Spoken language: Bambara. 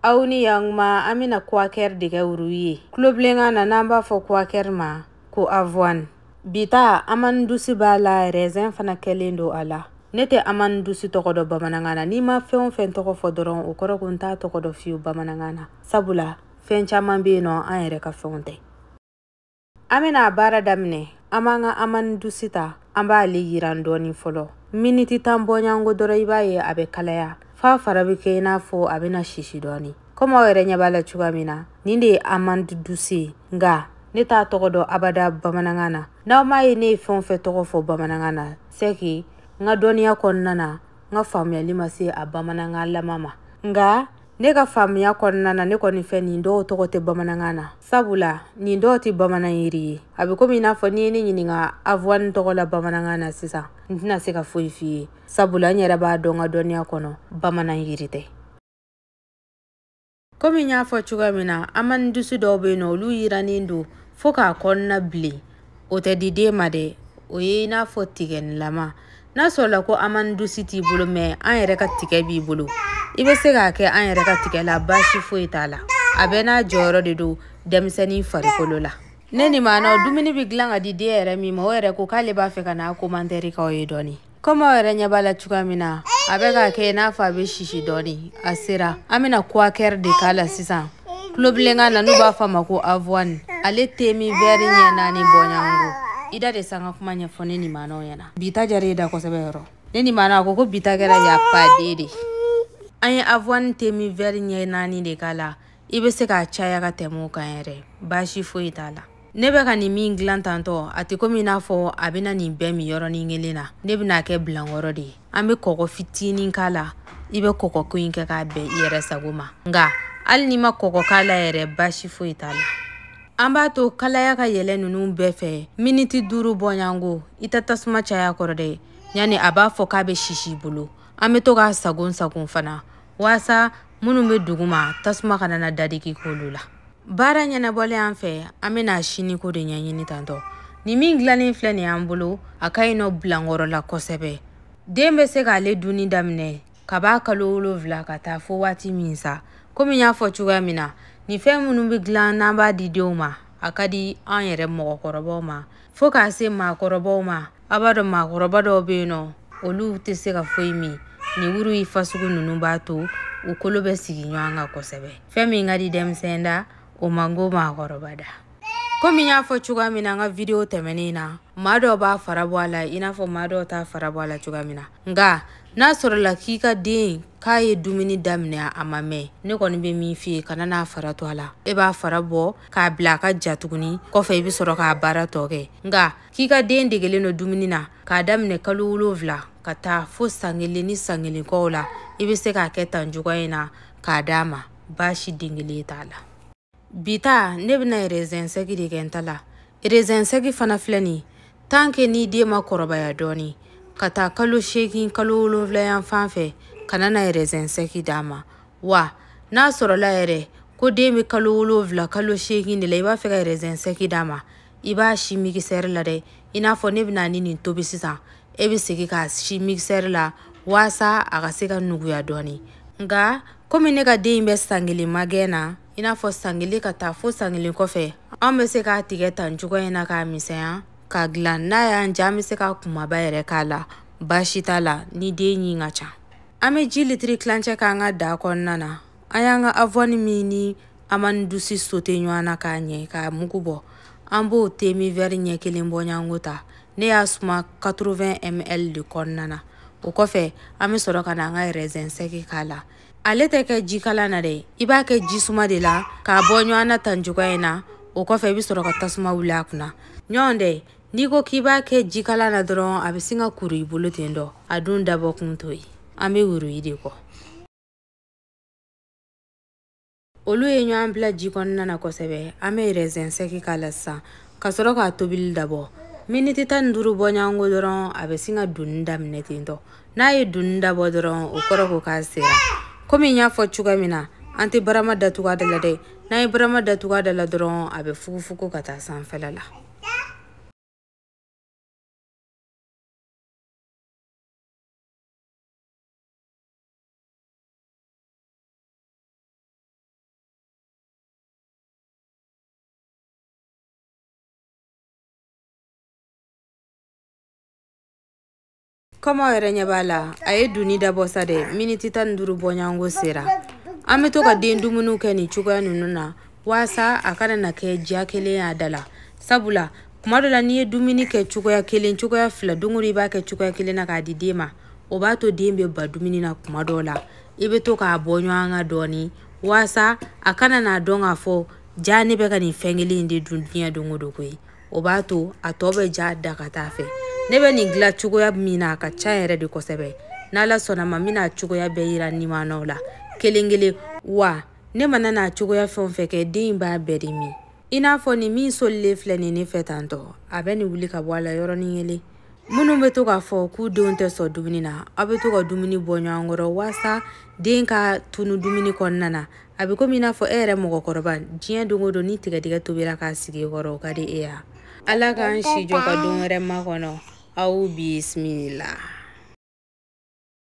aw ni yanguma an bɛna kuwakɛri de kɛ wuru ye tulobilenkan na n'an b'a fɔ kuwakɛri ma ko avoine bi ta amani dusi b'a la rɛzɛn fana kɛlen don a la ne tɛ amani dusi tɔgɔ dɔn bamanankan na ni n ma fɛn o fɛn tɔgɔ fɔ dɔrɔn o kɔrɔ ko n t'a tɔgɔ dɔn fewu bamanankan na sabula fɛn caman bɛ yen nɔ an yɛrɛ ka fɛnw tɛ an bɛna a baara daminɛ an b'an ka amani dusi ta an b'ale yiran dɔɔni fɔlɔ miniti tan bɔɲango dɔrɔn i b'a ye a bɛ kalaya f'a fara bɛ kɛ i n'a fɔ a bɛna sisi dɔɔni komi aw yɛrɛ ɲɛ b'a la cogoya min na nin de ye amani dusi ye nka ne t'a tɔgɔ dɔn abada bamanankan na n'aw m'a ye ne ye fɛn o fɛn tɔgɔ fɔ bamanankan na sɛki n ka dɔnniya kɔnɔna na n ka faamuyali ma se a bamanankan lama ma nka ne ka faamuya kɔnɔna na ne kɔni fɛ nin dɔw tɔgɔ tɛ bamanankan na sabula nin dɔw tɛ bamanan yiri ye a bɛ komi i n'a fɔ n'i ye ne ɲininka avuwani tɔgɔ la bamanankan na sisan n tɛna se ka foyi f'i ye sabula n yɛrɛ b'a dɔn n ka dɔnniya kɔnɔ bamanan yiri tɛ komi n y'a fɔ cogoya min na amani dusi dɔw bɛ yen nɔ olu yirannen don fo k'a kɔnɔna bilen o tɛ di den ma dɛ o ye i n'a fɔ tigɛnilama n'a sɔrɔla ko amani dusi t'i bolo mɛ an yɛrɛ ka tigɛ b'i bolo i bɛ se k'a kɛ an yɛrɛ ka tigɛ la baasi foyi t'a la a bɛɛ n'a jɔyɔrɔ de don denmisɛnnin farikolo la ne ni maanaw dumuni bɛ dilan ka di den yɛrɛ min ma o yɛrɛ ko k'ale b'a fɛ ka n'a komantɛri k'aw ye dɔɔni komi aw yɛrɛ ɲɛ b'a la cogoya min na a bɛ k'a kɛ i n'a fɔ a bɛ sisi dɔɔni a sera an bɛna kuwakɛri de k'a la sisan tulobilenkan na n'u b'a fɔ a ma ko avoine ale temi vɛri ɲɛ naani bɔɲango i da de sa n ka kuma ɲɛfɔ ne ni maanaw ɲɛna bi ta diyara e da kosɛbɛ yɔrɔ ne ni maana a ko ko bi ta kɛra y a pas deux de an ye avoine temi vɛri ɲɛ naani de k'a la i bɛ se k'a caya ka tɛmɛ o kan yɛrɛ baasi foyi t'a la ne bɛ ka nin min dilan tantɔ a tɛ komi i n'a fɔ a bɛna nin bɛɛ min yɔrɔnin kelen na ne bɛn'a kɛ bilankɔrɔ de ye an bɛ kɔgɔ fitinin k'a la i bɛ kɔgɔ ko in kɛ k'a bɛn i yɛrɛ sago ma nka hali n'i ma kɔgɔ k'a la yɛrɛ baasi foyi t'a la an b'a to kalaya ka yɛlɛ ninnu bɛɛ fɛ miniti duuru bɔɲango i tɛ tasuma caya kɔrɔ dɛ yanni a b'a fɔ k'a bɛ sisi bolo an bɛ to k'a sagon sagon fana waasa minnu bɛ duguma tasuma kana na dadigi k'olu la baara ɲɛnabɔlen an fɛ an bɛn'a siniko de ɲɛɲini tantɔ nin min dilannen filɛ nin y'an bolo a ka ɲi nɔ bilankɔrɔ la kosɛbɛ den bɛ se k'ale dunni daminɛ ka b'a kalo wolonfila ka taa fo waati min sa komi n y'a fɔ cogoya min na nin fɛn minnu bɛ dilan n'an b'a di denw ma a ka di an yɛrɛ mɔgɔkɔrɔbaw ma fo k'a se maakɔrɔbaw ma aw b'a dɔn maakɔrɔba dɔw bɛ yen nɔ olu tɛ se ka foyi min nin wuruyi fasugu ninnu b'a to u kolo bɛ sigi ɲɔgɔn kan kosɛbɛ fɛn min ka di denmisɛn da o man go maakɔrɔba da komi n y'a fɔ cogoya min na an ka video tɛmɛnen na maa dɔ b'a fara bɔ a la i n'a fɔ maa dɔw t'a fara bɔ a la cogoya min na nka n'a sɔrɔla k'i ka den k'a ye dumuni daminɛ a ma mɛn ne kɔni bɛ min f'i ye kana n'a fara to a la e b'a fara bɔ k'a bila a ka ja tuguni kɔfɛ i bɛ sɔrɔ k'a baara tɔ kɛ nka k'i ka den degelen don dumuni na k'a daminɛ kalo wolonwula ka taa fo san kelen ni san kelen kɔw la i bɛ se k'a kɛ tan cogoya in na k'a d'a ma baasi den kelen t'a la bi ta ne bɛna erezɛn sɛgi de kɛ n ta la erezɛn sɛgi fana filɛ nin tan ke ni den ma kɔrɔbaya dɔɔni ka taa kalo seegin kalo wolonwula yan fan fɛ kana na erezɛn sɛgi d'a ma wa n'a sɔrɔla yɛrɛ ko den bɛ kalo wolonwula kalo seegin de la i b'a fɛ ka erezɛn sɛgi d'a ma i b'a si migisɛri la dɛ i n'a fɔ ne bɛna ni nin tobi sisan e bɛ segin k'a si migisɛri la waasa a ka se ka nuguya dɔɔni nka komi ne ka den in bɛ san kelen magɛn na i n'a fɔ san kelen ka taa fo san kelen kɔfɛ an bɛ se k'a tigɛ tan cogoya in na k'a misɛnya k'a dilan n'a y'an diya an bɛ se k'a kunbaba yɛrɛ k'a la baasi t'a la ni den ɲin ka ca an bɛ ji litiri tilancɛ k'an ka daga kɔnɔna na an y'an ka avɔni min ni amandi dusi sote ɲɔgɔn na ka ɲɛ k'a mugu bɔ an b'o demi vɛri ɲɛ kelen bɔɲɔgɔnko ta ne y'a suma 80 ml de kɔnɔna na o kɔfɛ an bɛ sɔrɔ ka na an ka rɛzɛn sɛki k'a la ale tɛ kɛ jikalan na dɛ i b'a kɛ jisuma de la k'a bɔ ɲɔgɔn na tan cogoya in na o kɔfɛ i bɛ sɔrɔ ka tasuma wuli a kunna ɲɔgɔn dɛ n'i ko k'i b'a kɛ jikalan na dɔrɔn a bɛ sin ka kuru i bolo ten dɔ a dun dabɔ kun t'o ye an bɛ wuruyi de kɔ olu ye ɲɔgɔn bila ji kɔnɔna na kosɛbɛ an bɛ rɛzɛn sɛki k'a la sa ka sɔrɔ k'a tobili dabɔ miniti tan ni duuru bɔɲɔgɔnko dɔrɔn a bɛ sin ka dunni daminɛ ten tɔ n'a ye dunni dabɔ dɔrɔn o kɔrɔ ko k'a sera komi n y'a fɔ cogoya min na an tɛ barama datugu a da la dɛ n'an ye barama datugu a da la dɔrɔn a bɛ fugufugu ka taa sanfɛla la komi aw yɛrɛ ɲɛ b'a la a ye dunni dabɔ sa dɛ miniti tan ni duuru bɔɲɔgɔnko sera an bɛ to ka den dumuniw kɛ nin cogoya ninnu na waasa a kana na kɛ diya kelen y'a da la sabula kuma dɔ la n'i ye dumuni kɛ cogoya kelen cogoya fila don o don i b'a kɛ cogoya kelen na k'a di den ma o b'a to den bɛ ban dumuni na kuma dɔw la i bɛ to k'a bɔ ɲɔgɔn kan dɔɔnin waasa a kana n'a dɔn k'a fɔ jaa ne bɛ ka nin fɛn kelen in de dun diɲɛ don o don koyi o b'a to a tɔ bɛ diya a da ka taa fɛ ne bɛ nin dilan cogoya min na a ka ca yɛrɛ de kosɛbɛ n'ala sɔnn'a ma n bɛna cogoya bɛɛ yira nimanaw la kelen kelen wa ne mana n'a cogoya fɛn o fɛn kɛ den in b'a bɛɛ de min i n'a fɔ nin min solilen filɛ nin ne fɛ tantɔ a bɛ nin wuli ka bɔ a la yɔrɔnin kelen minnu bɛ to k'a fɔ k'u denw tɛ sɔn dumuni na aw bɛ to ka dumuni bɔ ɲɔgɔn kɔrɔ walasa den ka tunu dumuni kɔnɔna na a bɛ komi i n'a fɔ e yɛrɛ mɔgɔkɔrɔba diɲɛ don o don ni tigadɛgɛ tobira k'a sigi i kɔrɔ o ka di e ye wa ala k'an si jɔ ka don wɛrɛ makɔnɔ aw bisimila